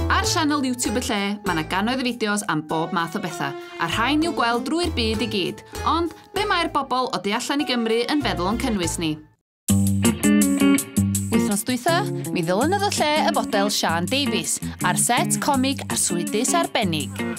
Ar sianel YouTube y lle, mae yna gannoedd o fideos am bob math o bethau, a rhain i'w gweld drwy'r byd i gyd. Ond, be mae'r bobl o du allan i Gymru yn feddwl o'n cynnwys ni? Wythnos dwytha, mi ddylynodd y lle y fodel Sian Davies, ar set comig arswydus arbennig.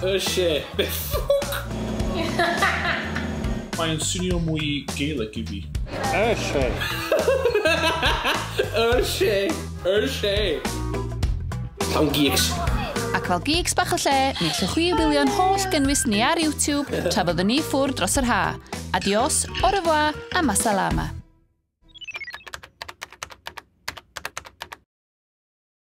Y lle be ffwc? Mae yn swnio mwy Gaelic i fi. Y lle! Y lle! Y lle! Llawn geeks. Ac fel geeks bach y lle, mi allwch chwi wylio'n holl gynnwys ni ar YouTube tra fyddwn ni ffwrdd dros yr ha. Adios, au revoir a masalama.